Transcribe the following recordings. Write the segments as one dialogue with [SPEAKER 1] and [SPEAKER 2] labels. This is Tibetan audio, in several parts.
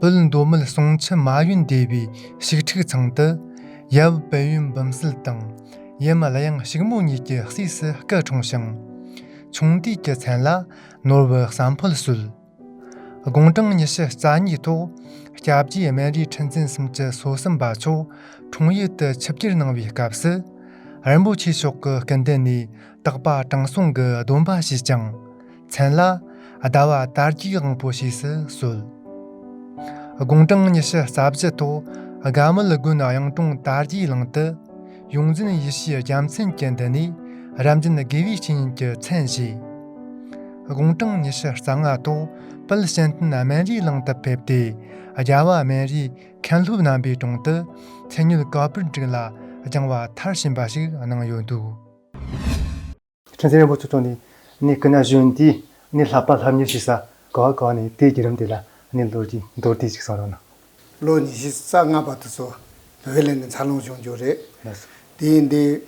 [SPEAKER 1] བོད་མདོ་སྨད་ཟུང་ཆུ་མ་ཡོན་སྡེ་བའི་ཞིག་ཁྲིགས་ཚང་དུ། ཡབ་དཔལ་ཡོན་བུམ་སིལ་དང། ཡུམ་གླ་ཡང་ཞིག་མོ་གཉིས་ཀྱི་སྲས་སུ་སྐུ་འཁྲུངས་ཤིང། ཆུང་དུས་ཀྱི་མཚན་ལ་ནོར་བུ་བསམ་ཕོད་གསོལ། དགུང་གྲངས་ཉི་ཤུ་རྩ་གཉིས་ཐོག་སྐྱབས་རྗེ་སྨན་རིའི་ཁྲི་འཛིན་གསུམ་གྱི་སོ་གསུམ་པ་མཆོག་འཁྲུངས་ཡུལ་དུ་ཆིབས་བསྒྱུར་གནང་བའི་སྐབས་སུ། རིན་པོ་ཆེ་མཆོག་གི་སྐུ་མདུན་ནས་རྟག་པ་དྲང་སྲོང་གི་སྡོམ་པ་བྱས་ཀྱང། མཚན་ལ། ཟླ་བ་དར་རྒྱས་དབང་པོ་ཞེས་སུ་གསོལ། དགུང་གྲངས་ཉི་ཤུ་རྩ་བཞི་ཐོག་དགའ་མོ་ལི་དགོན་གཡང་དྲུང་དར་རྒྱས་གླིང་དུ། ཡོངས་འཛིན་ཡེ་ཤེས་རྒྱལ་མཚན་གྱི་མདུན་ནས་རབ་འབྱམས་དགེ་བའི་བཤེས་གཉེན་གྱི་མཚན་བཞེས། དགུང་གྲངས་ཉི་ཤུ་རྩ་ལྔ་ཐོག་དཔལ་གཤེན་བསྟན་སྨན་རིའི་གླིང་དུ་ཕེབས་ཏེ་རྒྱལ་བ་སྨན་རིའི་མཁན་སློབ་རྣམ་པའི་དྲུང་དུ་ཚེ་ཉུལ་ག་པུར་འགྲིག་ལ་སྦྱང་བ་མཐར་ཕྱིན་པ་ཞིག་གནང་ཡོད་འདུག། ཁྲི་འཛིན་རིན་པོ་ཆེ་མཆོག་ནས་ནི་སྐུ་ན་གཞོན་དུས་ནི་ལྷག་པར་ལྷ་མྱུལ་ཞིག་ཟ་ག་བ་གོ་བ་ནི་དེའི་བརྒྱུད་རིམ་དེ་ལ་ནི་ལོ་རྒྱུས་མདོར་བསྡུས་ཤིག་གསུང་རོགས་གནང། ལོ་ཉི་ཤུ་
[SPEAKER 2] རྩ་ལྔ་པ་དུས་སུ་བོད་གླིང་ནས་འཚར་ལོངས་བྱུང་རྒྱུ་རེད། ལགས་སོ། དེ་ཡིན་དུས།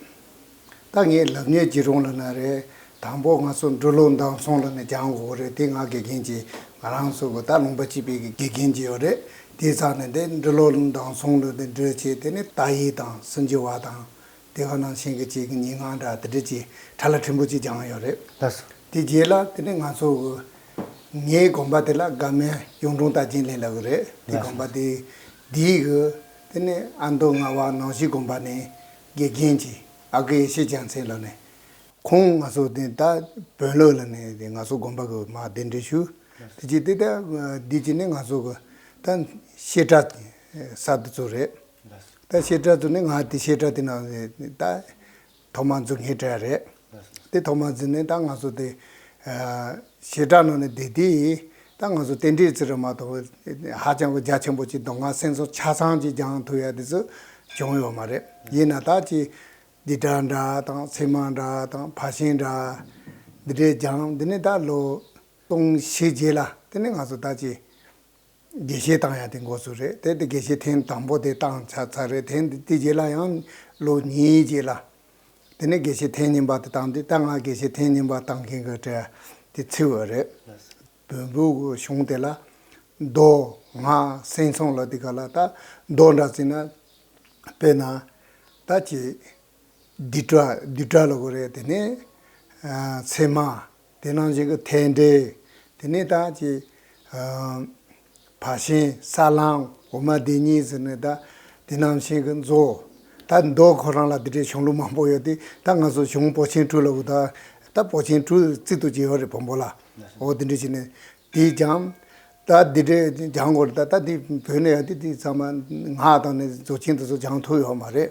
[SPEAKER 2] ད་ངས་ལབ་ཉེས་ཀྱི་རུང་ལ་ན་རེ། དང་པོ་ང་ཚོ་འབྲུག་ལོ་མདང་སོང་ལ་ནས་རྒྱང་གོ་གོ་རེད་དེ་ང་དགེ་རྒན་གྱིས་ང་རང་ཚོ་གོ་ད་ལུང་པ་སྤྱི་དཔེ་གི་དགེ་རྒན་གྱི་ཡོད་རེད་དེའི་ཚག་ནས་དེ་འབྲུག་ལོ་མདང་སོང་ལོ་དེ་འབྲུག་ཆེ་དེ་ནི་ཏཱ་ཡིག་དང་སུན་ཇི་བ་དང། དེ་ག་ནང་བཞིན་གྱི་ཅིག་ཉིན་སྔ་དྲ་དེ་འདྲས་ཀྱི་གྲ་ལ་ཕྲན་བུ་ཅིག་སྦྱངས་ཡོད་རེད། དེ་རྗེས་ལ་དེ་ནས་ང་ཚོ་གི་ངའི་དགོན་པ་དེ་ལ་དགའ་མལ་གཡུང་དྲུང་རྟ་ཅན་ལས་ལ་གི་རེད་དེ་དགོན་པ་དེ་དེའི་གི་དེ་ནས་ཨ་མདོ་རྔ་བ་ནང་བཞིན་དགོན་པ་ནས་དགེ་རྒན་གྱི་ཨ་ཀི་ཡེ་ཤེས་ལྕང་ཚེ་ལགས་ནས་ཁོང་ང་ཚོ་དེ་ད་བོན་ལོས་ལ་ནས་དེ་ང་ཚོ་དགོན་པ་གི་མ་གདན་འདྲེན་ཞུ་དེ་ཅིག་དེ་ད་དེ་ཅིག་ནས་ང་ཚོ་གི་ད་བཤད་གྲ་ས་དེ་ཚོ་རེད། ད་བཤད་གྲྭ་དུ་ནི་ང་དེ་བཤད་གྲྭ་དེ་ན་ད་ཐོག་མར་འཛུལ་ངེས་གྲྭ་རེད། དེ་ཐོག་མར་འཛུལ་ནས་ད་ང་ཚོ་དེ་བཤད་གྲྭ་ནང་ནས་བསྡད་དེ་ད་ང་ཚོ་རྟེན་འབྲེལ་ཟེར་བ་མ་གཏོགས་ཧ་ཅང་གི་རྒྱ་ཆེན་པོ་ཅིག་མདོ་སྔགས་སེང་ཟོ་ཆ་ཚང་གཅིག་རྒྱང་ཐུག་ཡ་དེ་ཚོ་བྱུང་ཡོད་མ་རེད། ཡིན་ན་ད་ཅི་སྡིག་གྲྭ་འདྲ་དང་ཚེ་མ་འདྲ་དང་བྷ་ཤིང་འདྲ་འདི་འདྲའི་རྒྱང་འདི་ནི་ད་ལོ་སྟོང་བཞི་རྗེས་ལ་དེ་ནི་ང་ཚོ་ད་ཅི། དགེ་བཤེས་བཏང་ཡ་དེ་འགོ་ཚུགས་རེད་དེ་དེ་དགེ་བཤེས་ཐེངས་དང་པོ་དེ་བཏང་ཆགས་ཚར་རེད་དེ་དེ་རྗེས་ལ་ཡང་ལོ་གཉིས་རྗེས་ལ་དེ་ནས་དགེ་བཤེས་ཐེངས་གཉིས་པ་དེ་བཏང་དེ་ད་ང་དགེ་བཤེས་ཐེངས་གཉིས་པ་བཏང་མཁན་གྱི་གྲས་དེ་ཚིག་འོས་རེད་བོན་པོའི་གཞུང་དེ་ལ་མདོ་སྔགས་སེང་གསུམ་ལ་དེ་ག་ལ་ད་མདོ་འདྲ་བརྩིས་ན་དཔེར་ན་ད་ཅིག། བདུད་དགྲ་བདུད་དགྲ་ལ་གོ་རེ་དེ་ནས་ཚེར་མ་དེ་ནང་བཞིན་གྱི་ཐལ་འབྲས་དེ་ནས་ད་ཅི་བག་ཤན་ས་བླང་འོ་མ་དེ་གཉིས་ཟེར་ནས་ད་དེ་ནང་བཞིན་གྱི་མཛོ་ད་མདོ་ཁོ་རང་ལ་དེ་འདྲའི་གཞུང་ལུགས་མང་པོ་ཡོད་དེ་ད་ང་ཚོ་གཞུང་པོ་ཆེན་སྤྲུལ་ལ་གོ་ད་ད་པོ་ཆེན་སྤྲུལ་རྩིས་ཏུ་བྱེད་པ་རེད་བོང་བུ་ལ་འོ་དེ་འདྲ་བྱས་ནས་དེས་ཀྱང་ད་འདི་འདྲའི་སྦྱང་དགོས་ལ་ད་འདི་བོད་ནས་འདི་འདི་ཚང་མ་སྔགས་དང་ནི་རྫོགས་ཆེན་དུ་སོགས་སྦྱང་ཐུབ་ཡོད་མ་རེད།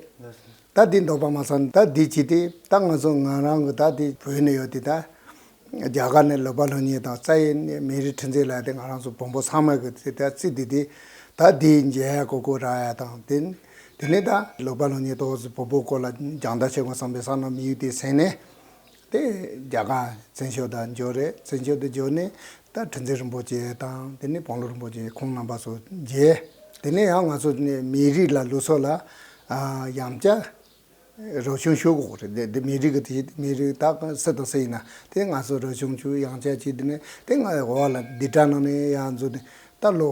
[SPEAKER 2] ད་འདི་འདོགས་པ་མ་ཚང་ད་འདི་བྱས་ཏེ་ད་ང་ཚོ་ང་རང་གི་ད་འདི་བོད་ནས་ཡོད་དེ་ད། རྒྱ་གར་ནས་ལོ་པ་ལོ་ཉེས་དང་རྩ་ཡི་མི་རིགས་འཕྲིན་ཚེགས་ལ་དེ་ང་རང་ཚོ་བོན་པོ་ཚང་མ་གི་དེ་ད་རྩིས་དེ་དེ་ད་འདི་མཇལ་ཡ་གོ་གོ་རག་ཡ་དང་དེ་དེ་ནས་ད་ལོ་པ་ལོ་ཉེས་དོགས་བོན་པོ་སྐོར་ལ་སྦྱང་བརྡར་བྱེད་དགོས་བསམ་པའི་བསམ་ན་མི་ཡུལ་དེ་ཟེར་ནས། དེ་རྒྱ་གར་བཙན་བྱོལ་དུ་འབྱོར་རེད་བཙན་བྱོལ་དུ་འབྱོར་ནས་ད་དྲིན་ཚེ་རིན་པོ་ཆེ་དང་དེ་ནས་བང་ལོ་རིན་པོ་ཆེ་ཁོང་རྣམ་པ་ཚོ་མཇལ། དེ་ནས་ཡང་ང་ཚོ་མི་རིགས་ལ་ལུས་སྲོག་ལ་ཡང་བསྐྱར་རོགས་ཆུང་ཞུ་དགོས་རེད་དེ་དེ་མི་རིགས་ཀྱི་དེ་མི་རིགས་ད་གང་སྲིད་དང་སྲིད་ཡིན་ན་དེ་ང་ཚོ་རོགས་ཆུང་ཞུ་ཡང་བསྐྱར་བྱས་དེ་ནས་དེ་ང་འོག་ལ་བསྡུས་གྲྭ་ནང་ནས་ཡང་འཛུགས་ནས་ད་ལོ་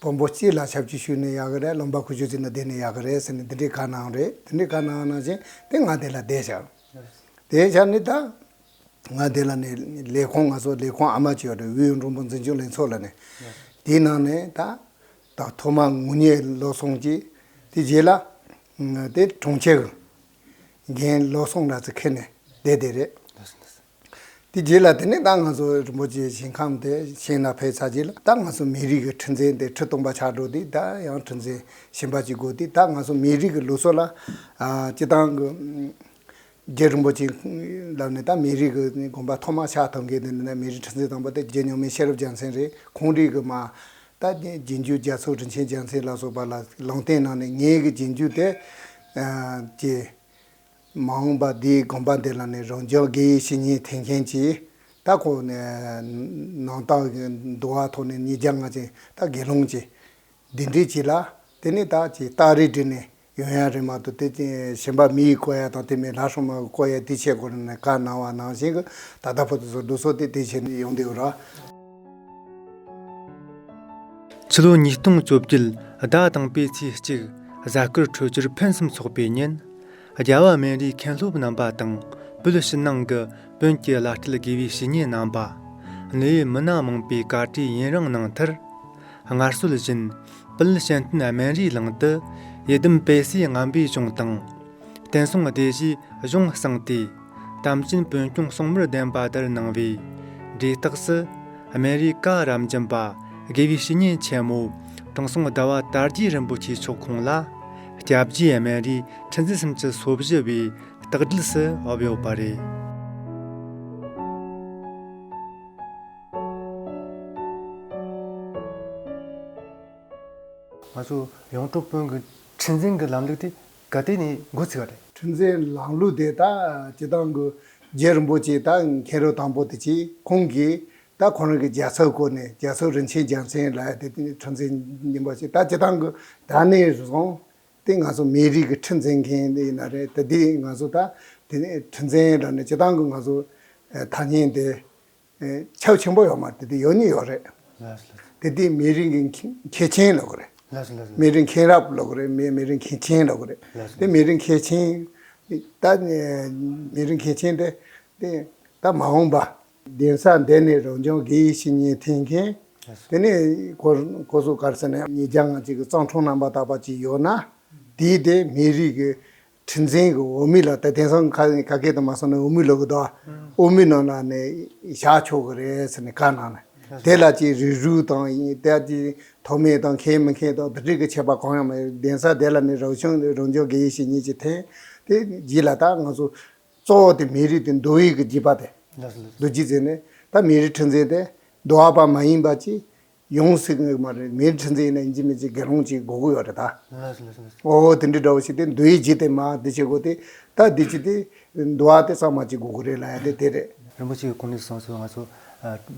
[SPEAKER 2] བོན་པོ་སྤྱི་ལ་ཞབས་ཀྱིས་ཞུས་ནས་ཡག་གི་རེད་སློབ་འབར་ཁུ་བྱུག་ཅིག་ན་བསྡད་ནས་ཡག་གི་རེད་ཟེར་ནས་དེ་འདྲའི་དགའ་སྣང་རེད་དེ་འདྲའི་དགའ་སྣང་སྣང་ཞིང་དེ་ང་དེ་ལ་བསྡད་བཞག་བསྡད་བཞག་ནི་ད་ང་དེ་ལ་ནས་ལས་ཁོང་ང་སོགས་ལས་ཁོང་ཨ་མ་ཅིག་ཡོད་རེད་དབུས་ཨུ་འབྲུག་འབངས་འཛིན་སྐྱོང་ལྷན་ཚོགས་ལ་ནས་དེའི་ནང་ནས་ད་ད་ཐོག་མ་ངུ་སྙད་ལོག་སོང་ཅིག་དེ་རྗེས་ལ་དེ་གྲོང་ཁྱེར་གྱི་འགན་ལོག་སོང་ར་ཚི་ཁེལ་ནས་བསྡད་བསྡད་རེད། དེ་རྗེས་ལ་དེ་ནས་ད་ང་སོ་རིན་པོ་ཆེའི་ཞིང་ཁམས་དེ་ཤིང་ནག་ཕེབས་ཚར་རྗེས་ལ་ད་ང་སོ་མི་རིགས་ཀྱི་ཁྲི་འཛིན་དེ་ཁྲི་སྟོང་པ་ཆགས་འགྲོ་དུས་ད་ཡང་ཁྲི་འཛིན་གཞན་པ་ཅིག་དགོས་དུས་ད་ང་སོ་མི་རིགས་ཀྱི་ལུགས་སྲོལ་ལ་སྤྱི་བཏང་གི། རྗེ་རིན་པོ་ཆེའི་ལབ་ནས་ད་མི་རིགས་ཀྱི་དགོན་པ་ཐོག་མ་ཕྱག་ཐོག་མཁན་དེ་ནི་ད་མི་རིགས་ཁྲི་འཛིན་དང་པོ་དེ་རྗེ་གཉུག་མའི་ཤེས་རབ་རྒྱལ་མཚན་རེད་ཁོང་རིགས་ཀྱི་མ། ད་རྗེ་འཇུ་རྒྱལ་ཚོགས་རིན་ཆེན་རྒྱལ་མཚན་ལ་སོགས་པ་ལ་ལུང་བསྟན་གནང་ནས་ངེད་ཀྱི་རྗེ་འཇུ་དེ། རྗེ། མ་འོངས་པ་འདིའི་དགོངས་པ་འདི་ལ་ནི་རང་བྱུང་དགེ་བའི་བཤེས་གཉེན་དེ་མཁན་གྱིས་ད་གོ་ནས་ནང་རྟགས་ཀྱི་འདུ་བ་ཐོག་ནས་ཉིས་བརྒྱ་ལྔ་ཅན་ད་དགེ་སློང་གྱིས་འདི་འདྲས་བྱས་ལ་དེ་ནས་ད་ཅི་རྟགས་རེ་བྲིས་ནས་ཡོན་ཡང་རེ་མ་ཏུ་དེ་གཞན་པ་མི་ཡི་བསྐོ་ཡ་དང་དེ་མིན་ལྷ་སྲུང་མ་གི་བསྐོ་ཡའི་དུས་ཆད་གོ་ནས་ནས་བཀའ་གནང་བ་ནང་བཞིན་གྱི་ད་ལྟ་བོ་དུ་སོར་སྡུ་སོགས་དེ་དེ་བྱས་ནས་ཡོང་དུས་ར།
[SPEAKER 1] ཕྱི་ལོ་ཉིས་སྟོང་བཅོ་བརྒྱད་ཟླ་དང་པོའི་ཚེས་གཅིག་གཟའ་སྐར་འཕྲོད་སྦྱོར་ཕུན་སུམ་ཚོགས་པའི་ཉིན། རྒྱལ་བ་སྨན་རིའི་མཁན་སློབ་རྣམ་པ་དང་པོད་ཕྱི་ནང་གི་བོན་གྱི་བླ་སྤྲུལ་དགེ་བའི་བཤེས་གཉེན་རྣམ་པ། གནས་ཡུལ་མི་སྣ་མང་པོས་བཀའ་ཁྲིའི་ཡུན་རིང་གནང་མཐར། སྔར་སྲོལ་བཞིན་པུད་ཤན་སྟོན་སྨན་རིའི་ལང་དུ་ཡི་དམ་དཔལ་སའི་རྔམ་པའི་གཞུང་དང། བསྟན་སྲུང་སྡེ་བཞིའི་གཞུང་བསྲངས་ཏེ། དམ་ཅན་དཔོན་སྐྱོང་སྲུང་མར་གདན་པ་དེར་གནང་བས། འབྲས་རྟགས་སུ། སྨན་རིའི་བཀའ་རམ་སྦྱིན་པ་དགེ་བའི་བཤེས་གཉེན་ཆེན་མོ། དེང་སང་ཟླ་བ་དར་རྒྱས་རིན་པོ་ཆེ་མཆོག་ཁོང་ལ། སྐྱབས་རྗེ་སྨན་རིའི་ཁྲི་འཛིན་གསུམ་གྱི་སོ་བཞི་བའི་རྟགས་སྒྲིལ་སུ་འོབས་ཡོད་པ་རེད། ང་ཚོ་ཡོངས་གྲོགས་དཔོན་གྱི་ཁྲི་འཛིན་གྱི་ལམ་ལུགས་དེ་ག་དེ་ནི་འགོ་ཚུགས་པ་རེད། ཁྲིམས་འཛིན་ལམ་
[SPEAKER 2] ལུགས་དེ་ད་ཇི་ལྟར་འགོ། རྗེ་རིན་པོ་ཆེས་ད་མཁན་རུ་དང་པོ་དེ་གཅིག་ཁོང་གིས་ད་ཁོང་རང་གི་རྒྱལ་ཚབ་བསྐོས་ནས་རྒྱལ་ཚབ་རིན་ཆེན་རྒྱལ་མཚན་ལ་དེ་ཁྲིམས་འཛིན་ཡིན་པ་ཞིག་ད་ཇི་ལྟར་འགོ། ད་ནས་བཟུང་དེ་ང་ཚོ་མིའི་རིགས་ཀྱི་ཁྲིམས་འཛིན་མཁན་དེ་ཡིན་ན་རེད་ད་དེ་ང་ཚོ་ད་དེ་ཁྲིམས་འཛིན་ལ་ནི་ཇི་ལྟར་འགོ་ང་ཚོ་ད་ཉིན་དེ་ཆབ་ཆེན་པོ་ཡོད་མ་དེ་དེ་ཡོད་ནི་ཡོད་རེད། དེ་དེ་མི་རིགས་ཀྱི་མཁས་ཆེན་ལོག་རེད། མི་རིགས་མཁྱེན་རབ་ལོག་རེད་མི་རིགས་མཁས་ཆེན་ལོག་རེད། དེ་མི་རིགས་མཁས་ཆེན། ད་མི་རིགས་མཁས་ཆེན་དེ་དེ་ད་མ་འོངས་པ། གདན་ས་འདི་ནས་རང་བྱུང་དགེ་བཤེས་ཤིང་ཉེ་འཐེན་མཁན། དེ་ནས་ཀོ་བཟོ་དཀར་ཟེར་ནས་ཉེ་རྒྱ་ང་གཅིག་གི་གཙང་འཁྲུངས་རྣམ་པ་དག་པ་གཅིག་ཡོད་ན། དེའི་དེ་མི་རིགས་ཀྱི། དྲིན་ཅན་གྱི་འོ་མའི་ལག་ཏུ་དེང་སང་ག་ག་གེ་དང་མ་སོང་ནས་འོ་མའི་ལག་གི་དང་འོ་མའི་ནང་ལ་ནི་བཞག་ཆོག་གི་རེད་ཟེར་ནས་བཀའ་གནང་ནས་དེ་ལ་ཅིག་རིགས་རུས་དང་དེ་ལ་ཅིག་ཐོགས་མེད་དང་མཁས་མི་མཁས་དང་དུ་དྲེག་གི་ཆད་པ་གང་ཡང་མེད་གདན་ས་དེ་ལ་ནི་རང་བྱུང་རང་བྱུང་དགེ་བཤེས་ཉིད་ཀྱིས་ཐེངས་དེ་བགྱིས་ལ་ད་ང་ཚོ་གཙོ་བོ་དེ་མི་རིགས་དེ་མདོ་དབུས་ཀྱི་བགྱིས་པ་དེ་མདོ་བགྱིས་ཟེར་ནས་ད་མི་རིགས་ཁྲི་འཛིན་དེ་མདོ་བ་པ་མ་ཡིན་པ་ཅིག་ཡོངས་སུ་བསྔགས་མ་རེད་མིའི་ཁྲི་འཛིན་ནས་འཇིགས་མི་འཇིགས་དགེ་སློང་གཅིག་དགོས་ཀྱི་ཡོད་རེད་ད། འོ་ཧོ་དེ་འདྲའི་འདྲ་བོ་ཞིག་དེ་འདུ་ཡི་བྱེད་དེ་མ་འདི་བྱེད་དགོས་དེ་ད་འདི་བྱེད་དེ། འདུ་བ་དེ་གཙང་མ་བྱེད་དགོས་ཀྱི་རེད་ལ་ཡ་དེ་དེ་རེད། རིན་པོ་ཆེའི་དགོངས་ནས་གསུངས་
[SPEAKER 1] སོང་ང་ཚོ།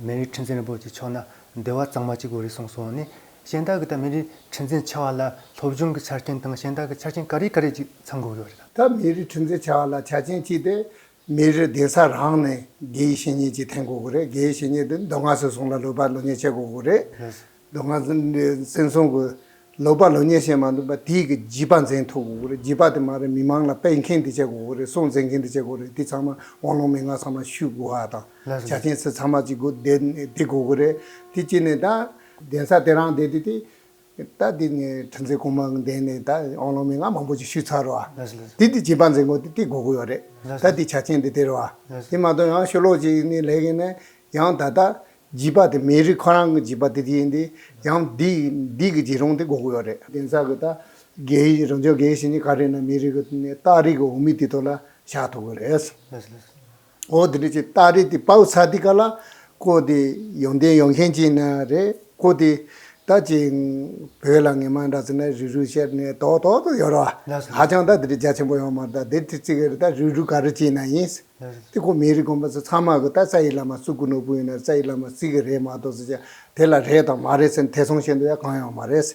[SPEAKER 1] མེའི་ཁྲི་འཛིན་རིན་པོ་ཆེ་ཕྱོགས་ན་འདི་བ་གཙང་མ་བྱེད་དགོས་རེད་གསུངས་སོང་ནི། གཞན་དག་གི་ད་མེ་རི་ཁྲི་འཛིན་བྱ་བ་ལ་སློབ་སྦྱོང་གི་ཆ་རྐྱེན་དང་གཞན་དག་གི་ཆ་རྐྱེན་ག་རེ་ག་རེ་ཅིག་ཚང་དགོས་ཀྱི་ཡོད་རེད་ད། ད་མེ་རི་ཁྲི་འཛིན་
[SPEAKER 2] བྱ་བ་ལ་ཆ་རྐྱེན་ཅི་སྟེ་མི་རེ་བདེ་ས་རང་ནས་དགེ་ཡི་བཤེས་གཉེན་གྱིས་འཐེན་དགོས་ཀྱི་རེད་དགེ་ཡི་བཤེས་གཉེན་དེ་མདོ་སྔགས་སུ་སོང་ལ་ལོ་པ་ལོ་ཉེས་བྱེད་དགོས་ཀྱི་རེད་མདོ་སྔགས་བཙན་སྲུང་གི་ལོ་པ་ལོ་ཉེས་བྱེད་མ་འདུག་པ་དེས་ཀྱི་བགྱིས་པ་འཛིན་ཐུབ་དགོས་ཀྱི་རེད་བགྱིས་པ་དེ་མ་རེད་མི་མང་ལ་སྤེལ་མཁན་དེ་བྱེད་དགོས་ཀྱི་རེད་སྲུང་འཛིན་མཁན་དེ་བྱེད་དགོས་རེད་དེ་ཚང་མ་དབང་ལུང་མན་ངག་ཚང་མ་ཞུས་དགོས་བ་དང་བྱ་མཁན་ཚོས་ཚང་མ་ཅིག་དགོས་བདེ་དགོས་ཀྱི་རེད་དེ་གཅིག་ནས་ད། གདན་ས་དེ་རང་བདེ་དེ་དེ་ད་འདི་ནས་ཁྲི་འཛིན་གོང་མ་འདས་ནས་ད་ཨོང་ལོང་མི་ང་མང་པོ་ཅིག་ཞུས་ཚར་རོ། དེ་འདི་བྱིས་པ་འཛིན་གོ་དེ་དེ་གོ་གོ་ཡོད་རེད། ད་འདི་བྱ་ཆེན་འདི་དེ་རོ། དེ་མ་ཏོ་ཡང་ཤོ་ལོག་ཅིག་ནི་ལས་གིན་ནས་ཡང་ད་ད་བྱིས་པ་དེ་མི་རིགས་ཁོ་རང་གི་བྱིས་པ་དེ་དེ་ཡིན་དེ་ཡང་འདི་འདི་གི་བྱིས་རོང་དེ་གོ་གོ་ཡོད་རེད། དེང་སང་གི་ད་རྒྱའི་རང་བྱུང་རྒྱའི་ཞིང་ཆེན་ག་རེ་ན་མི་རིགས་གི་ནས་སྟག་རིགས་གི་འོ་མི་དེ་དོ་ལ་བཞག་ཐུབ་གི་རེད། ཨོ་དེ་འདྲ་ཅིག་སྟག་རི་དེ་དཔའ་བོ་ཚ་འདི་ག་ལ་ཀོ་དེ་ཡོང་དེ་ཡོང་མཁན་ཅིག་ན་རེ་ཀོ་དེ་ད་ཅིག་བོད་ལ་ངེས་མ་འདྲ་ཚེ་ན་རི་རུ་ཤར་ནས་ཏོག་ཏོག་ཏོག་ཡོང་རོ་ཧ་ཅང་ད་དེ་འདྲ་རྒྱ་ཆེན་པོ་ཡོང་མ་ད་དེ་དེ་ཅིག་རེ་ད་རི་རུ་ག་རེ་ཅིག་ན་ཡིན། དེ་ཀོ་མི་རིགས་ཀོ་འབའ་ཚ་ཚང་མ་གོ་ད་རྩ་ཡི་བླ་མ་སུ་ཀུ་ནོར་བུ་ཡིན་ན་རེ་རྩ་ཡི་བླ་མ་རྩིས་གི་རེད་མ་གཏོགས་ཚེ་ཅག་དེ་ལ་རེད་དང་མ་རེད་ཚེ་ན་དེ་སོང་བཞིན་དུ་ཡ་གང་ཡང་མ་རེད།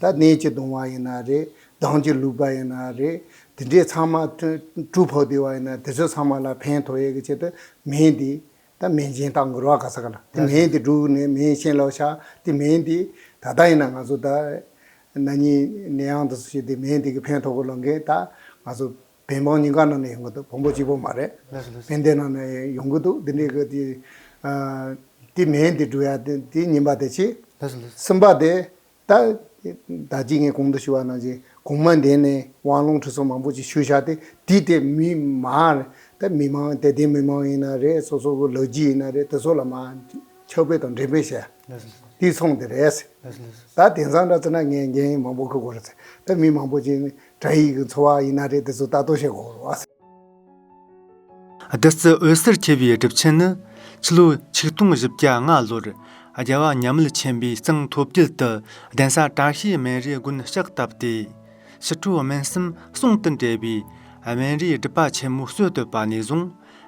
[SPEAKER 2] ད་ནད་ཀྱིས་གདུང་བ་ཡིན་ན་རེད། སྡང་གིས་བསླུས་པ་ཡིན་ན་རེད། དེ་འདྲས་ཚང་མ་གྲུ་ཕོག་བསྡད་བ་ཡིན་ན་དེ་ཚོ་ཚང་མ་ལ་ཕན་ཐོགས་ཡས་ཀྱི་ཆེད་དུ་མེ་འདི་ད་མེ་མཆན་དག་འགུལ་བ་ག་ས་ག་ལ་དེ་མེ་འདི་བསྒྲུགས་ནས་མེ་མཆན་ལོག་ཆགས་དེ་མེ་འདི་ད་ལྟ་ཡིན་ན་ང་ཚོ་ད་ན་ནིང་ནས་ཡང་དུ་སུ་ཞིག་དེ་མེ་འདི་གི་ཕན་ཐོགས་པ་ལོག་མཁན་ད་ང་ཚོ། བན་འབངས་ཉིན་དཀར་ནང་ནས་ཡོང་གི་འདུག་བོང་བུ་གཅིག་པོ་མ་རེད། བན་དེ་ནང་ནས་ཡོང་གི་འདུག་འདི་འདྲའི་དེ། དེ་མེད་འདི་འགྲོ་ཡ་དེ་ཉིན་པ་དེ་ཆེ། གསུམ་པ་དེ། ད་ད་ཅིག་ངས་གོང་དུ་ཞུ་བ་ནང་བཞིན་གོང་མ་འདས་ནས་དབང་ལུང་ཁྲི་སྲོང་མང་པོ་ཅིག་ཞུ་བཞག་སྟེ་དེ་དེ་མི་མ་རེད། དེ་མི་མ་དེ་དེ་མི་མ་ཡིན་ན་རེད་སོ་སོ་གི་ལོ་རྒྱུས་ཡིན་ན་རེད་དེ་ཚོ་ལ་མ་ཁྱབ་སྤེལ་དང་འགྲེམས་སྤེལ་བྱས། དེའི་ཚོང་དེ་རེད། ད་དེང་སང་འདྲ་ཚེ་ན་ངས་རྒྱན་ཡིན་མང་པོ་ཁུར་དགོས་རེད། དེ་མི་མང་པོ་ཅིག་དྲ་ཡིག་གི་འཚོ་བ་ཡིན་ན་རེད་དེ་ཚོ་ལྟ་དོ་ཞེས་གོ་རོ། བདུད་
[SPEAKER 1] རྩི་འོད་ཟེར་འཁྱིལ་བའི་སྒྲུབ་ཆེན་ནི། ཕྱི་ལོ་ཆིག་སྟོང་བཞི་བརྒྱ་ལྔ་ལོར་རྒྱལ་བ་ཉམས་མེད་ཆེན་པོའི་གཙང་ཐོབ་རྒྱུད་དུ་གདན་ས་བཀྲ་ཤིས་སྨན་རིའི་དགོན་ལྕགས་བཏབ་སྟེ། ཕྱི་དྲོ་སྨན་གསུམ་གསུང་དུ་འབྲེལ་བའི་སྨན་རིའི་སྒྲུབ་པ་ཆེན་མོ་སྲོལ་བཏོད་པ་ནས་བཟུང་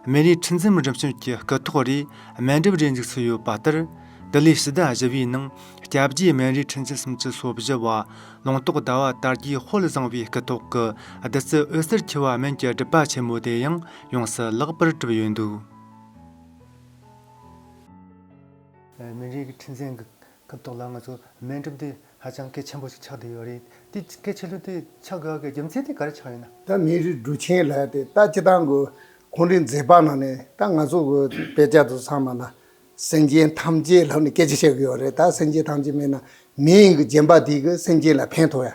[SPEAKER 1] མེ་རིའི་ཁྲི་འཛིན་རིམ་བྱོན་གྱི་སྐུ་ཐོག་རེའི་སྨན་སྒྲུབ་རེ་འཇུག་སྲོལ་ཡོད་པ་ལྟར། དེ་ལོའི་ཕྱི་ཟླ་བཞི་བའི་ནང་སྐྱབས་རྗེ་སྨན་རིའི་ཁྲི་འཛིན་གསུམ་གྱི་སོ་བཞི་བ་ལུང་རྟོགས་ཟླ་བ་དར་རྒྱས་དཔལ་བཟང་བའི་སྐུ་ཐོག་གི་བདུད་རྩི་འོད་ཟེར་འཁྱིལ་བ་སྨན་གྱི་སྒྲུབ་པ་ཆེན་མོ་དེ་ཡང་ཡོངས་སུ་བརླག་པར་གྲུབ་ཡོད་འདུག། མེ་རིའི་ཁྲི་འཛིན་གྱི་སྐུ་ཐོག་ལ་ང་ཚོས་སྨན་སྒྲུབ་དུས་ཧ་ཅང་སྐད་ཆེན་པོ་ཞིག་ཆགས་བསྡད་ཡོད་རེད། དེ་སྐད་ཆེན་པོ་དེ་ཆགས་དགོས་ཀྱི་རྒྱུ་མཚན་དེ་ག་རེ་ཆགས་ཡོད་ན། ད་མི་རིགས་དྲུག་
[SPEAKER 2] ཆེན་ལ་དེ་ལྟ་ཅི་གཏང་དགོས་ཁོང་རེ་མཛེས་པ་ནང་ནས་ད་ང་ཚོ་གི་དཔེ་ཆ་དུ་ཚང་མ་ན་སེམས་ཅན་ཐམས་ཅད་ལྷག་ནས་སྐད་ཆ་བཤད་གི་ཡོད་རེད་ད་སེམས་ཅན་ཐམས་ཅད་མེད་ན་མི་ཡིན་གི་རྗེན་པ་དེ་གི་སེམས་ཅན་ལ་ཕན་ཐོག་ཡ་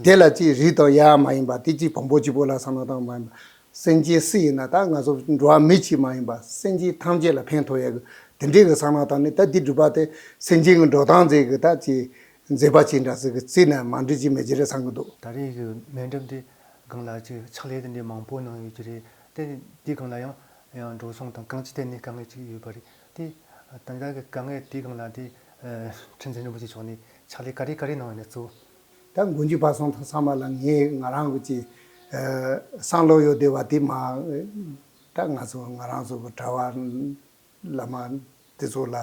[SPEAKER 2] དེ་ལ་ཅི་རིགས་དང་ཡ་མ་ཡིན་པ་དེ་ཅི་བོང་བུ་གཅིག་པོ་ལ་ས་ན་དང་མ་ཡིན་པ་སེམས་ཅན་སུ་ཡིན་ན་ད་ང་ཚོ་འགྲོ་བ་མི་གཅིག་མ་ཡིན་པར་སེམས་ཅན་ཐམས་ཅད་ལ་ཕན་ཐོགས་ཡས་གི་དེ་འདྲའི་གི་གསང་སྔགས་དང་ནི་ད་འདི་སྒྲུབ་པ་དེ་སེམས་ཅན་གི་འགྲོ་སྟངས་མཛེས་གི་ད་ཅི་མཛེས་པ་ཅི་འདྲ་ཟིག་གི་རྩིས་ནས་མ་འབྲི་ཅི་མི་བྱེད་རེད་བསམ་གི་འདུག། ད་རེས་ཀྱི་སྨན་
[SPEAKER 1] འགྲེམས་དེ་སྒང་ལ་ཅིག་ཕྱག་ལས་དེ་འདྲའི་མང་པོ་གནང་ཡོད་ཀྱི་རེད་དེ། དེའི་སྒང་ལ་ཡང་ཡང་འགྲོ་སོང་དང་གང་ཅི་ཐད་ནས་དཀའ་ངལ་ཅིག་ཡོད་པ་རེད་དེ། ད་ལྟ་གི་དཀའ་ངལ་དེའི་སྒང་ལ་དེ། ཁྲི་འཛིན་རིན་པོ་ཆེ་མཆོག་ནས་ཕྱག་ལས་ག་རེ་ག་རེ་གནང་ཡོད་ནས་གཙོ་བོ། ད་མགོ་འཇུག་པ་
[SPEAKER 2] སོང་ཐག་ཚང་མ་ལ་ངས་ང་རང་གི་ཅི་བསམ་བློ་ཡོད་བསྡད་པ་དེ་མ་ད་ང་ཚོ་ང་རང་ཚོ་གྲྭ་བ་བླ་མ་དེ་ཚོ་ལ་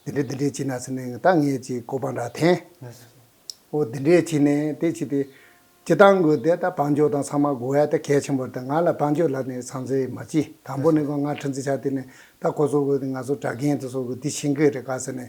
[SPEAKER 2] འདི་འདྲས་འདི་འདྲས་བྱས་ན་ཟེར་ནས་ད་ངས་ཅི་གོ་བ་འདྲ་འཐེན། འོ་འདི་འདྲས་བྱས་ནས་དེ་བྱས་ཏེ་ཅི་ལྟར་དགོས་དེ་ད་བང་མཆོད་དང་ཚང་མ་དགོས་ཡ་ད་གལ་ཆེན་པོ་ད་ང་ལ་བང་མཆོད་ལ་ནི་ཚང་ཚེ་མ་ཅི་དང་པོ་ནི་ང་ཁྲི་འཛིན་ཆ་དེ་ནི་ད་ཁོ་ཚོ་གི་ང་ཚོ་གྲྭ་རྒན་དེ་ཚོ་གི་དེ་བྱིན་གྱི་རེ་ཁ་ཟེར་ནས་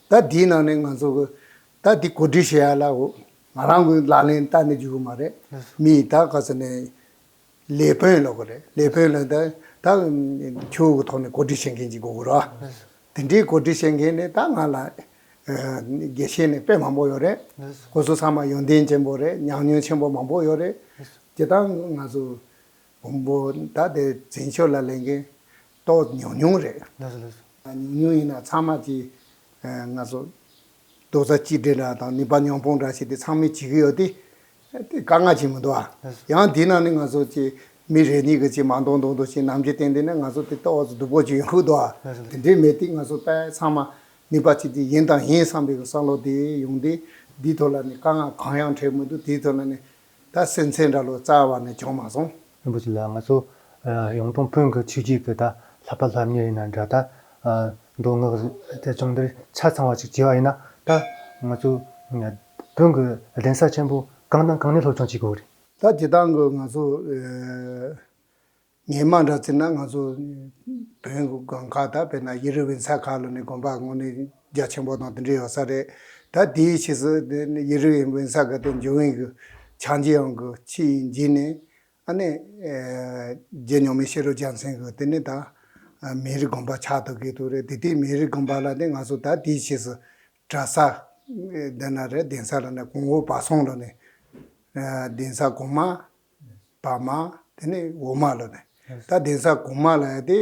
[SPEAKER 2] ད་དེའི་ནང་ནས་ང་ཚོ་ད་དེ་གོ་སྒྲིག་བྱེད་ཡ་ལ་ང་རང་གི་ལག་ལེན་ལྟ་ནི་འགྱུར་གི་མ་རེད། མི་ཡིས་ད་ག་ཚོད་ནས་ལས་དཔོན་ལོག་གི་རེད་ལས་དཔོན་ལ་ད་ད་ཁྱོའུ་གི་ཐོག་ནས་གོ་སྒྲིག་བྱེད་མཁན་ཅིག་དགོས་གི་རོ། དེ་འདྲའི་གོ་སྒྲིག་བྱེད་མཁན་ནི་ད་ང་ལ་དགེ་བཤེས་ནི་དཔེ་མང་པོ་ཡོད་རེད། ཁོ་ཚོ་ཚང་མ་ཡོན་ཏན་ཅན་པོ་རེད་ཉམས་མྱོང་ཆེན་པོ་མང་པོ་ཡོད་རེད། དེ་དག་ང་ཚོ་བོན་པོ་ད་དེ་འཛིན་ཆོས་ལ་ལས་མཁན་ཏོག་ཉུང་ཉུང་རེད། ཉུང་ཉུང་ཡིན་ན་ཚང་མ་གྱིས་ང་ཚོ་རྡོག་རྩ་གཅིག་སྒྲིལ་འདྲ་དང་ནུས་པ་ཉོང་སྤོང་འདྲ་བྱས་ཏེ་ཚང་མས་བྱེད་ཀྱི་ཡོད་དེ། དེ་དཀའ་ངལ་ཅིག་མི་འདུག་ཨ། ཡང་དེས་ན་ནི་ང་ཚོ་ཀྱིས་མི་རེ་གཉིས་ཀྱིས་ཀྱིས་མང་འདོགས་འདོགས་འདོགས་ཀྱིས་ནམ་གྱི་བརྟེན་དེ་ནི་ང་ཚོ་དེ་ཏོག་སྡུག་པོ་ཅིག་ཡོང་ཁུལ་འདུག་ཨ། དེ་འདྲས་མེད་དེ་ང་ཚོ་དཔལ་ཚང་མ་ནུས་པ་གཅིག་སྒྲིལ་ཡིན་དང་ཡིན་བསམ་པའི་བསམ་བློ་དེ་ཡོང་དེ། འདིའི་ཐོག་ལ་ནི་དཀའ་ངལ་གང་ཡང་འཕྲད་མི་འདུག་དེའི་ཐོག་ལ་ནི་ད་སེམས་ཚེ་འདྲ་ལོ་ཙཱ་བ་ནས་བྱུང་མ་སོང། རིན་པོ་ཆེ་ལགས་ང་ཚོ་
[SPEAKER 1] ཡོངས་གྲོང་དཔོན་གྱི་ཆོས་རྗེས་ཀྱི་ད་ལྷ་པ་ལྷ་མྱི་ཡིན་ན་འདྲ་ད་མདོ་སྔགས་བཅས་ཚོང་འདིར་ཆ་ཚང་བ་ཞིག་བྱས་བ་ཡིན་ན་ད་ང་ཚོ་དཔོན་གྱི་གདན་ས་ཆེན་པོ་གང་དང་གང་ནས་སློབ་སྦྱོང་བྱེད་དགོས་རེད། ད་བྱེད་སྟངས་གྱི་ང་
[SPEAKER 2] ཚོ་ངའི་མ་འདྲ་ཚིག་ན་ང་ཚོ་བོན་སྒང་ཁག་དང་བོད་ནང་ཡེ་རི་བའི་མཚལ་ཁག་ལོ་ནས་དགོན་པ་དངོས་ནི་རྒྱ་ཆེན་པོ་དང་དེ་འདྲ་ཡོད་ས་རེད་ད་དེའི་ཕྱིས་སུ་ཡེ་རི་བའི་བོན་ས་ག་དེ་འཇོན་བོན་གི་བྱང་རྗེ་ཡང་གི་ཕྱི་ཡི་འཇིག་ནས་ཨ་ནེ་རྗེ་མྱོང་མའི་ཤེས་རོག་རྒྱལ་མཚན་གི་དེ་ནས་ད་མེ་རི་དགོན་པ་ཆགས་ཐུབ་གི་ཐུག་རེད་དེ་ལྟའི་མེ་རི་དགོན་པ་ལ་ནི་ང་ཚོ་ད་དེའི་ཕྱིས་སུ་གྲ་ས་འདི་ན་རེད་གདན་ས་ལ་ནི་གོང་འོག་བར་གསུམ་ལོ་ནས་གདན་ས་གོང་མ། བ་མ། དེ་ནས་འོག་མ་ལ་ནི། ད་གདན་ས་གོང་མ་ལ་ཡང་དེ།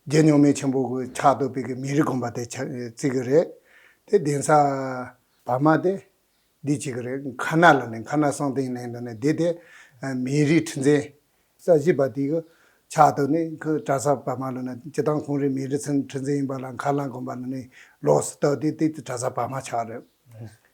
[SPEAKER 2] རྒྱལ་མྱོང་མའི་ཆེན་པོ་གི་ཕྱག་ཏུ་པིག་གི་མེ་རི་བསྒོམ་པ་དེ་བརྩི་གི་རེད། དེ་གདན་ས། བ་མ་དེ། འདི་བྱེད་ཀྱི་རེད་མཁའ་སྣ་ལ་ནི་མཁའ་སྣ་གསང་སྟེང་ནས་དོན་ནི་དེ་དེ། མེ་རིའི་ཁྲི་འཛིན། ས་བཞི་པ་དེ་གི་ཕྱག་ཏུ་ནི་ཁུ་ཏྲ་ས་བ་མ་ལ་ནི་སྤྱི་བཏང་ཁོང་རིགས་མེ་རི་ཁྲི་འཛིན་ཡིན་པ་ལ་མཁའ་སྣ་བསྒོམ་པ་ལ་ནི་ལོགས་སུ་བལྟ་དེ་དེ་ཏྲ་ས་བ་མ་ཕྱག་རེད།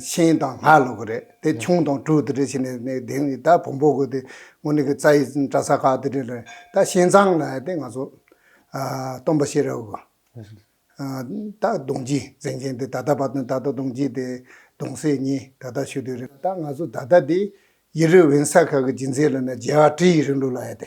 [SPEAKER 2] ཤིང་དང་སྔགས་ལོག་གི་རེད་དེ་ཁྱུང་དང་གྲུ་དེ་འདྲ་བྱས་ནས་ནས་དེང་ད་བོང་བུ་དགོས་ཏེ་ངོ་ནི་གི་རྩ་ཡི་བཀྲ་ས་ཁག་དེ་འདྲ་ལས་ད་ཤིང་ཚང་ལ་ཡ་དེ་ང་ཚོ་སྟོན་པ་ཤེས་རབ་དགོས། ད་གདོང་སྐྱིད་འཛིན་མཁན་དེ་ད་ལྟ་བར་དུ་ད་ལྟ་གདོང་སྐྱིད་དེ་གདོང་སྲས་གཉིས་ད་ལྟ་ཞུ་དུས་རེད་ད་ང་ཚོ་ད་ལྟ་དེ་ཡེ་རུ་བན་ས་ཁག་གི་སྦྱིན་སྲེག་ལ་ནས་རྒྱལ་བ་ཀྲི་ཡི་རིང་ལུགས་ལ་ཡ་དེ་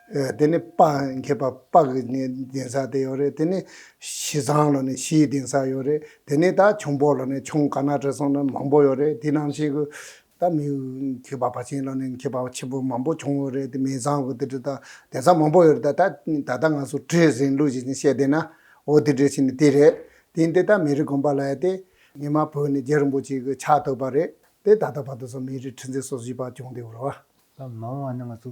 [SPEAKER 2] དེ་ནི་དཔག་འགེབས་པ་དཔག་གི་ནི་གདན་ས་དེ་ཡོད་རེད་དེ་ནི་བཞི་བཟང་ལ་ནི་བཞིའི་གདན་ས་ཡོད་རེད་དེ་ནི་ད་ཁྱུང་པོ་ལ་ནི་ཁྱུང་དཀར་ནག་དྲི་བཟང་ནི་མང་པོ་ཡོད་རེད་དེ་ནང་བཞིན་གྱི། ད་མི་མཁས་པ་བ་ཆེན་ལ་ནི་མཁས་པ་ཆེན་པོ་མང་པོ་བྱུང་ཡོད་རེད་དེ་མི་བཟང་གི་དེ་འདྲ་ད་གདན་ས་མང་པོ་ཡོད་རེད་ད་ད་ལྟ་ང་ཚོ་བྲིས་ཟིན་ལུགས་ཀྱི་ནི་བཤད་བསྡད་ན་འོ་དེ་འདྲའི་ཞིག་ནི་དེ་རེད་དེ་ཡིན་ཏེ་ད་མི་རིགས་དགོན་པ་ལ་ཡ་སྟེ། ཉི་མ་བོད་ནི་རྒྱལ་རིན་པོ་ཆེ་གི་ཕྱག་བཏོད་པ་རེད་དེ་ད་ལྟ་བར་དུ་སོང་མི་རིགས་ཁྲི་འཛིན་སོ་བཞི་པ་བྱུང་སྟེ་འོ། ལ་མང་བ་ནི་ང་
[SPEAKER 1] ཚོ་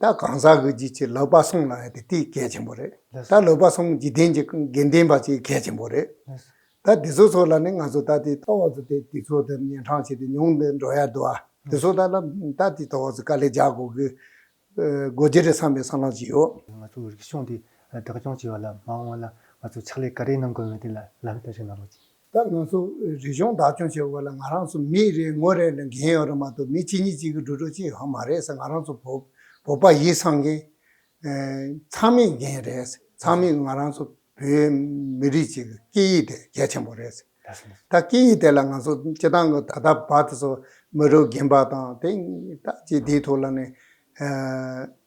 [SPEAKER 2] ད་གང་ཟག་གི་རྗེས་ཀྱི་ལོད་པ་སོང་ལ་ཡང་དེ་དེའི་གལ་ཆེན་པོ་རེད། ད་ལོད་པ་སོང་འཇིག་རྟེན་གྱི་དགེ་ལྡན་པ་ཅིག་གལ་ཆེན་པོ་རེད། ད་དེ་ཚོ་ཚོ་ལ་ནི་ང་ཚོ་ད་དེ་ཐོག་བར་དུ་དེ་དེ་ཚོ་དེ་གཉན་འཕྲང་བྱས་ཏེ་མྱོང་དེ་འགྲོ་ཡ་འདུག་ཨ། དེ་ཚོ་ད་ལ་ད་དེ་ཐོག་བར་དུ་དཀའ་ལས་རྒྱག་དགོས་གི་དགོས་རྒྱུ་རེད་བསམ་པའི་བསམ་བློ་ཅིག་ཡོད། ང་ཚོ་རིག་གཞུང་འདི་
[SPEAKER 1] བདག་སྐྱོང་བྱེད་པ་ལ་མ་འོངས་ལ་ང་ཚོ་ཕྱག་ལས་ག་རེ་གནང་དགོས་མིན་དེ་ལ་ལམ་སྟོན་ཞིག་གནང་རོགས་གྱིས། ད་ང་ཚོ་
[SPEAKER 2] རིག་གཞུང་བདག་སྐྱོང་བྱེད་དགོས་པ་ལ་ང་རང་ཚོ་མི་རེ་ངོ་རེ་ལ་འགན་ཡོད་རེད་མ་གཏོགས་མི་གཅིག་གཉིས་གཅིག་གི་འགྲོ་གྲོགས་གཅིག་ཧ་མ་རེད་ས་ང་རང་ཚོ་བོད་བོད་པ་ཡིད་ཚང་གི་ཚང་མི་འགན་རེད་ས་ཚང་མི་ང་རང་ཚོ་བོད་མི་རིགས་གཅིག་གི་སྐད་ཡིག་དེ་གལ་ཆེན་པོ་རེད་ས་ད་སྐད་ཡིག་དེ་ལ་ང་ཚོ་སྤྱི་བཏང་གི་ད་ལྟ་བར་དུ་ཚོ་མི་རུ་རྒན་པ་དང་དེ་ད་ཅི་དེའི་ཐོག་ལ་ནས་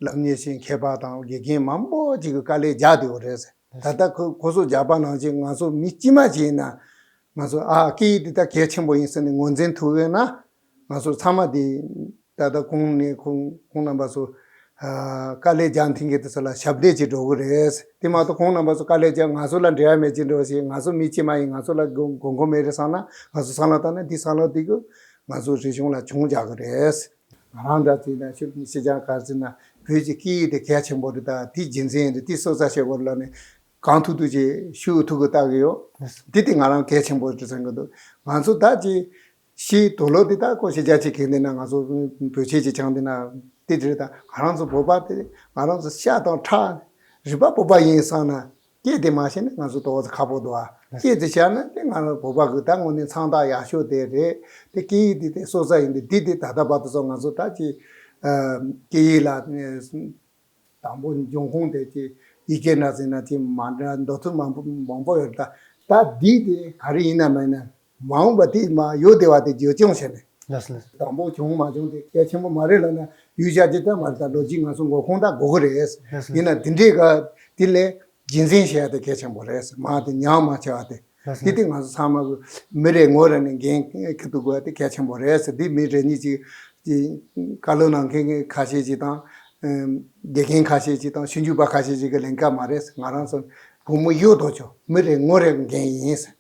[SPEAKER 2] ལབ་ཉེས་ཤིང་མཁས་པ་དང་དགེ་རྒན་མང་པོ་གཅིག་གི་དཀའ་ལས་རྒྱག་དེ་ཡོད་རེད་ས། ད་ལྟ་ཁོས་སྒོ་ཟོག་རྒྱག་པ་ནང་བཞིན་ང་ཚོ་མི་དཀྱིས་མ་ཞིག་ཡིན་ན། ང་ཚོས་ཨ་ཨ་ཀི་ཀི་འདི་ལྟར་གལ་ཆེན་པོ་ཡིན་ཟེར་ནས་ངོས་འཛིན་ཐུབ་ཡོད་ན། ང་ཚོ་ཚང་མ་འདི་ད་ལྟ་ཁོང་ནས་ཁོང་ཁོང་རྣམ་པ་ཚོ། དཀའ་ལས་རྒྱག་འཐེན་མཁན་དེ་ཚོ་ལ་ཞབས་འདེགས་བྱེད་འགྲོ་གི་རེད། དེ་མ་གཏོགས་ཁོང་རྣམ་པ་ཚོ་དཀའ་ལས་རྒྱག་ང་ཚོ་ལ་འབྲེལ་བ་མེད་ཅི་འགྲོ་ཞེས་ང་ཚོ་མི་དཀྱིས་མ་ཡིན་ང་ཚོ་ལ་དགོས་མཁོ་མེད་རེད་བསམ་ན་ང་ཚོ་སང་ལ་བཏང་ནས་འདི་སང་ལ་བསྡུས་ཀྱི་ང་ཚོ་རིག་གཞུང་ལ་གྱོང་རྒྱག་གི་རེད། ང་རང་འདྲ་བརྩིས་ན་ཤུགས་ཀྱིས་ཤེས་བྱ་གར་བརྩིས་ན་བོད་ཀྱི་སྐད་ཡིག་དེ་གལ་ཆེན་པོ་རེད་ད་དེའི་རྒྱུ་མཚན་ཡིན་དུས་དེའི་སྲོག་རྩ་ཆེ་བོ་ལ་ནི་གང་ཐུག་ཐུག་ཅིག་ཤུགས་ཐུག་གི་བལྟ་གི་ཡོད་དེ་དེ་ང་རང་གལ་ཆེན་པོ་རེད་བསམ་གྱི་འདུག་ང་ཚོ་ད་ཅི་ཞིག་དོ་ལོ་དེ་ད་ཀོ་ཤེས་བྱ་ཅིག་གི་འདི་ན་ང་ཚོ་བོད་ཆས་ཅིག་བྱང་འདི་ན་དེ་རེད་ད་ང་རང་ཚོ་བོད་པ་དེ་ང་རང་ཚོ་ཤ་དང་ཁྲག་རིག་པ་བོད་པ་ཡིན་བསམ་ན་སྐྱེས་དེ་མ་བྱས་ན་ང་ཚོ་ལྟོ་བ་ཁ་བོ་དོ་ཨ། སྐྱེས་དེ་བྱས་ན་དེ་ང་རང་བོད་པ་གི་ད་དངོས་ནས་མཚང་རྟགས་ཡག་ཤོས་དེ་རེད། དེ་སྐད་ཡིག་འདི་དེ་སྲོག་རྩ་ཡིན་པས་འདི་དེ་ད་ལྟ་བར་དུ་སོང་ང་ཚོ་ད་ཀྱི། སྐད་ཡིག་ལ། དང་པོ་འབྱུང་ཁུངས་དེ་ཀྱི་ཡི་གེ་འདྲ་ཟེར་ན་ཅི་མ་འདྲ་མདོ་ཐུག་མང་པོ་ཡོད་ད། ད་འདི་དེ་ག་རེ་ཡིན་ནམ་མིན་ནམ། མ་འོངས་པ་དེ་མ་གཡོ་བདེ་བ་དེ་བསྒྱུར་སྐྱོང་བྱས་ནས། དང་པོ་བྱུང་མ་བྱུང་དེ་གལ་ཆེན་པོ་མ་རེད་ལབ་ན་ཡུལ་གཞག་ཇི་ལྟར་མ་རེད་ད་ལོ་རྒྱུས་ང་ཚོ་མགོ་ཁུངས་དག་གོ་གི་རེད། ཡིན་ན་དེ་འདྲའི་སྐབས་དེ་ལས་རྒྱུན་འཛིན་བྱེད་ཡ་དེ་གལ་ཆེན་པོ་རེད་མ་དེ་ཉམས་མ་བྱེད་བ་དེ། དེ་དེ་ང་ཚོ་ཚང་མ་མི་རེ་ངོ་རེ་ནས་འགན་ཁུ་ཐུག་དགོས་དེ་གལ་ཆེན་པོ་རེད་དེ་མི་རེ་གཉིས་ཅིག་གིས་བཀའ་བློན་ནང་མཁན་ཁ་ཤས་ཅིག་དང། དགེ་རྒན་ཁ་ཤས་ཅིག་དང་ཞུ་འཇུག་པ་ཁ་ཤས་ཅིག་གི་ལན་སྐབས་མ་རེད་ང་རང་ཚོ་བུ་མོ་གཡོ་ལྡོག་ཆོག་མི་རེ་ངོ་རེ་
[SPEAKER 1] འགན་
[SPEAKER 2] ཡིན།